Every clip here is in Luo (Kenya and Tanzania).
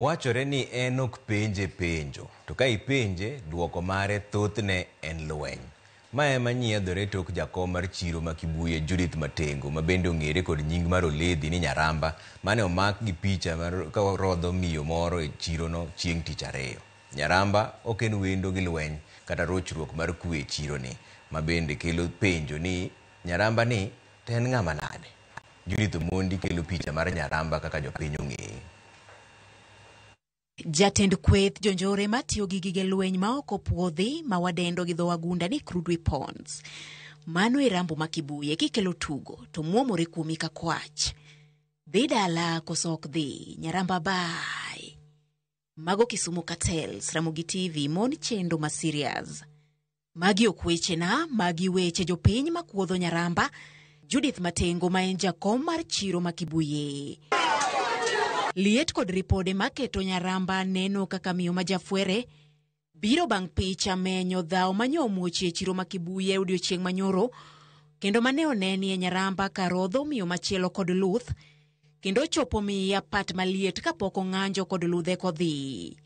Wachore ni en ok penje penjo, to ka ipenje, dwoko mare thothne en lweny. Ma ema nyiedhore e tok jakom mar chiro ma Kibuye, Judith Matengo, ma bende ong'ere kod nying mar Oledhi ni Nyaramba, mane omak gi picha ka orodho miyo moro e chirono chieng' tich ariyo. Nyaramba ok en wendo gi lweny kata rochruok mar kwe e chironi, ma bende kelo penjo ni Nyaramba ni To en ng'ama nade? Judith Omondi kelo picha mar Nyaramba kaka jopiny ong'eye. Jatend kweth jonjore matiyo gi gige lweny ma ok opwodhi ma wadendo gi dho wagunda ni crude weapons. Mano e Rambo ma Kibuye kikelo tugo to mwomore kuomi ka kwach. Dhi dala koso ok dhi, Nyaramba bye. Mago Kisumu Cartels, Ramogi TV, mon chendo ma serious. Magi ok wechena, magi weche jopiny ma kuodho nyaramba. Judith Matengo ma en jakom mar chiro ma Kibuye. Liet kod ripode maketo nyaramba neno kaka miyo ma jafwere Biro bang' picha menyo dhawo manyo omuochie chiro ma Kibuye odiochieng' manyoro kendo mane onenie Nyaramba karodho miyo machielo kod luth kendo ochopo miya pat maliet kapok ong'anjo kod ludhe kodhi.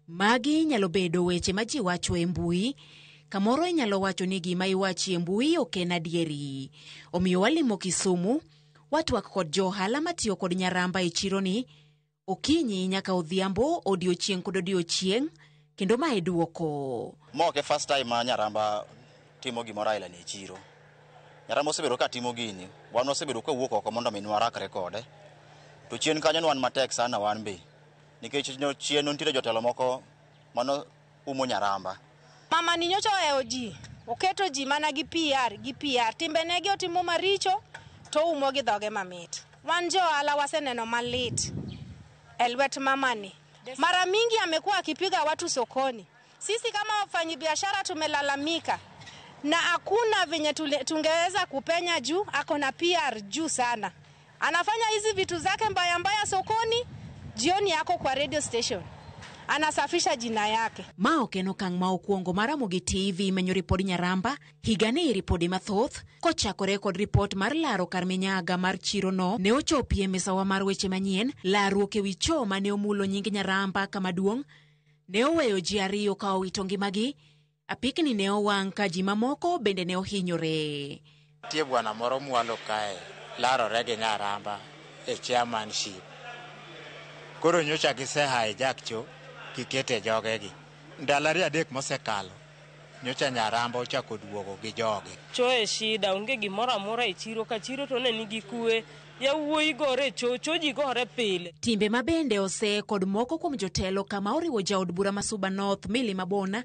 Magi nyalo bedo weche ma ji wacho e mbui. Kamoro inyalo wacho ni gima iwachi e mbui ok en adieri. Omiyo walimo Kisumu, watwak kod jo ohala matiyo kod Nyaramba e chironi Okinyi nyaka odhiambo, odiochieng' kod odiochieng', kendo ma e dwoko. Ma ok e first time ma Nyaramba timo gimoro aila ni e chiro. Nyaramba osebedo ka timo gini, wan wasebedo ka wawuok oko mondo mi ne warakre kode. To chien kanyo ne wan matek sana wan be. Nikech chien ne nitiere jotelo moko mano umo nyaramba. Mamani nyocha ohewo ji, oketo ji mana gi PR gi PR. Timbenegi otimo maricho to oumo gi dhoge mamit. Wan jo ohala waseneno malit e lwet mamani. Mara mingi amekuwa akipiga watu sokoni. Sisi kama wafanyabiashara tumelalamika na hakuna venye tule- tungeweza kupenya juu ako na PR juu sana. Anafanya hizi vitu zake mbaya mbaya sokoni, jioni yako kwa radio station anasafisha jina yake. Ma ok en okang' ma okwongo ma Ramogi TV menyo ripod Nyaramba. Higani ripode mathoth kochakore kod ripot mar laro kar minyaga mar chirono ne ochopi e misawa mar weche manyien. Laruok e wi cho ma ne omulo nying Nyaramba kama duong' ne oweyo ji ariyo ka owito ngimagi Apikni ne owang' ka ji mamoko bende ne ohinyore. Nitie bwana moro mwalo kae larore gi nyaramba e chairmanship. Koro nyocha gise hijack cho gikete jogegi. Ndalo ariyo adek mosekalo nyocha nyaramba ochako duogo gi joge. Cho e shida, onge gimoro amora e chiro ka chiro to ne nigi kuwe. Yawuoyi gore e cho, cho ji gore pile. Timbe ma bende ose kod moko kuom jotelo kama oriwo jaod bura ma Suba North Milly Mabona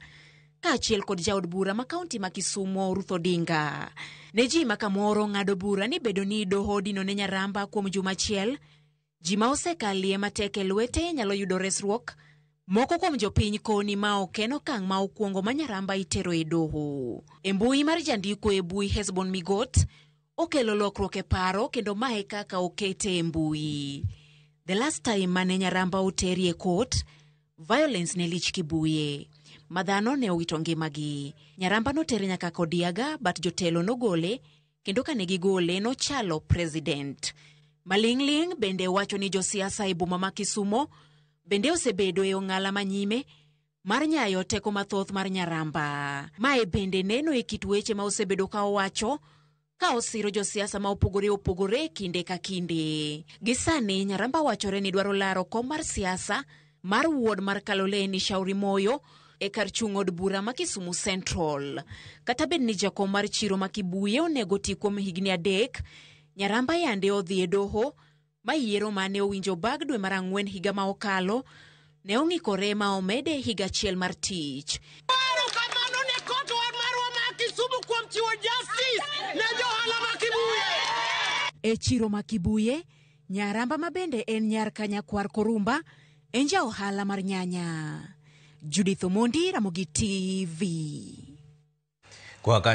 kaachiel kod jaod bura ma kaunti ma Kisumo Ruth Odinga. Ne ji ma kamoro ng'ado bura ni bedo ni doho odino ne Nyaramba kuom juma achiel, ji ma osekalie matek e lwete nyalo yudo resruok. Moko kuom jopiny koni ma ok en okang' ma okwongo ma Nyaramba itero e doho. E mbui mar jandiko e bui Hesbon Migot, okelo lokruok e paro kendo ma e kaka okete e mbui. The last time mane Nyaramba oteri e court, violence ne lich Kibuye. Ma dhano ne owito ngimagi. Nyaramba notere nyaka Kodiaga but jotelo nogole kendo kane gigole nochalo president. Maling'ling' bende wacho ni josiasa e boma ma Kisumo bende osebedo e ong'ala ma nyime mar nyayo teko mathoth mar nyaramba. Mae bende neno e kit weche ma osebedo ka owacho ka osiro josiasa ma opogore opogore kinde ka kinde. Gi sani Nyaramba wachore ni dwaro laro kom mar siasa mar wuod mar Kaloleni Shauri Moyo e kar chung' od bura ma Kisumu Central. Kata bed ni jakom mar chiro ma Kibuye onego ti kuom higni adek, Nyaramba yande odhi e doho ma yiero ma ne owinjo bag dwe mar ang'wen higa ma okalo ne ong'ikore ma omede higa achiel mar tich. Paro kamano ne kot wa marwa ma Kisumu kuom chiwo justice ne johala ma Kibuye. E chiro ma Kibuye, Nyaramba ma bende en nyar Kanyakwar Korumba en ja ohala mar nyanya. Judith Omondi, Ramogi TV. Kwa ka